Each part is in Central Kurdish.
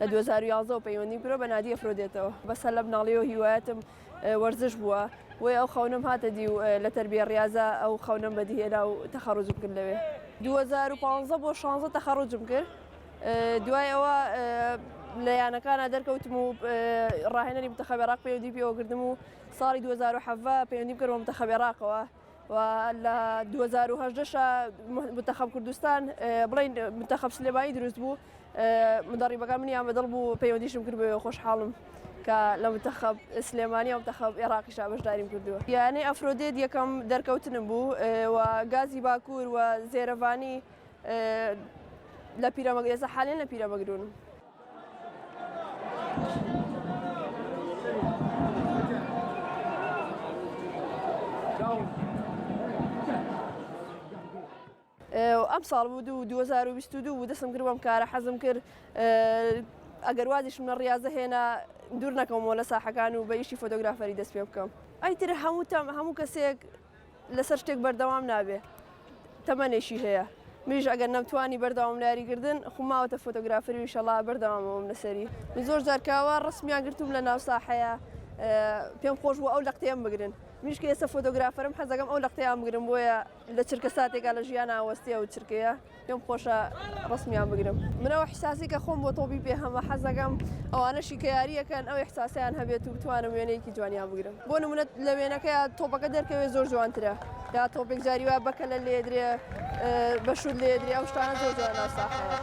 لە دوو هەزار و یازدە و پەیوەندیم کرۆ بە نادی ئەفرۆدێتەوە بەسە لە مناڵیەوە هیوایەتم وەرزش بووە وی ئەو خەونم هاتە دی و لە تربیە ڕاضە ئەو خەونم بەدیهێنا و تەخەڕۆجم کرد لەوێ 2015 بۆ 16 تەخەڕۆجم کرد دوای ئەوە لە یانەکانا دەرکەوتم و ڕاهێنەری منتەخەب عێراق پەیوەندی پێوە کردم و ساڵی 2017 پەیوەندیم کردەوە منتەخەب عێراقەوە و لە 2018 منتەخەب کوردستان بڵین منتەخەب سلێمانی دروست بوو مدەڕیبەکان منی ئامەدڵ بوو پەیوەندیشم کرد بە خۆشحاڵم کە لە منتەخەب سلێمانی ئەو منتەخەب عێراقیش بەشداریم کردووە یانەی ئەفرۆدێت یەکەم دەرکەوتنم بوو و گازی باکوور و زێرەڤانی لە پیرەمەگر ئێستا حالیان لە پیرەمەگرون. ئەم ساڵ بوو دوو 2022 بوو دەسم کرد بەم کارە حەزم کرد ئەگەر وازیشم لە ڕاضە هێنا دوور نەکەمەوە لە ساحەکان و بە یشی فۆتۆگرافەری دەست پێ بکەم ئەیتر هەموو تام هەموو کەسێک لەسەر شتێک بەردەوام نابێ تەمەنێکی هەیە منیش ئەگەر نەمتوانی بەردەوام لە یاریکردن خو ماوەتە فۆتۆگرافەری وشەڵا بەردەوامەوەم لەسەری من زۆر جارکاوە ڕسمیان گرتوم لە ناو ساحەیە پێم خۆش بوو ئەو لە قتێم بگرن منیش کە ئێستا فۆتۆگرافەرم حەزەکەم ئەو لە قتەیان بگرم بۆیە لە چرکە ساتێکا لە ژیان ئاوەستێ ئەو چرکەیە پێم خۆشە ڕسمیان بگرم من ئەو حساسی کە خۆم بۆ تۆبی پێ هەمە حەزەکەم ئەوانەشی کە یاریەکەن ئەو حساسیان هەبێت و بتوانم وێنەیەکی جوانیان بگرم بۆ نمونەت لە وێنەکە تۆپەکە دەرکەوێت زۆر جوانترە یا تۆپێک جاری وایە بەکە لە لێدرێ بەشود لێدرێ ئەو شتانە زۆر جوان ناساخەوە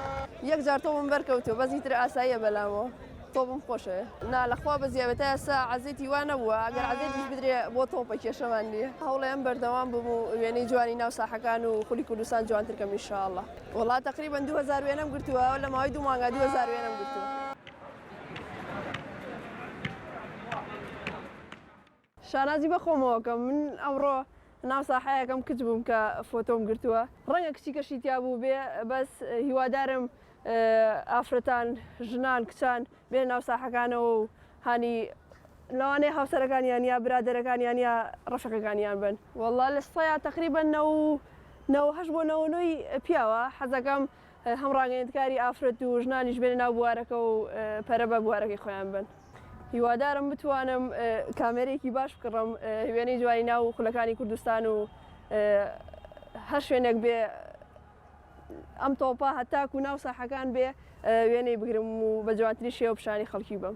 یەک جارتەوەم بەرکەوتو بەزیتر ئاساییە بەلامەوە. تۆپم خۆشەوێ نا لەخوا بە زیاوێتە ئێسا عزێتی وا نەبووە ئەگەر عزێتیش بدرێ بۆ تۆپە کێشەمان نیە هەوڵێم بەردەوام بم و وێنەی جوانی ناو ساحەکان و خولی کوردستان جوانترکەم میشاءله وڵات تقریبا 2000 وێنەم گرتووە لە ماوەی دوو مانگا 2000 وێنەم گرتووە. شانازی بە خۆمەوە کەم من ئەمڕۆ ناو ساحەیەکەم کچ بووم کە فۆتۆم گرتووە ڕەنگە کچیکەشی تیا بووبێ بەس هیوادارم ئافرەتان ژنان کچان بێنە ناو ساحەکانەوە و هانی لەوانەیە هاوسەرەکانیان یا برادەرەکانیان یا ڕەفیقەکانیان بن وەڵڵا لە سەیا تەقریبەن نەوە و نەوە هەشت بۆ نەوە و نۆی پیاوە حەزەکەم هەم ڕاگەیەندکاری ئافرەت و ژنانیش بێنە ناو بوارەکە و پەرە بە بوارەکەی خۆیان بەن. هیوادارم بتوانم کامێرەیەکی باش بکڕم وێنەی جوانی ناو خولەکانی کوردستان و هەر شوێنێک بێ ئەم تۆپە هەتاک و ناو ساحەکان بێ وێنەی بگرم و بە جوانتری شێوە پیشانی خەڵکی بم.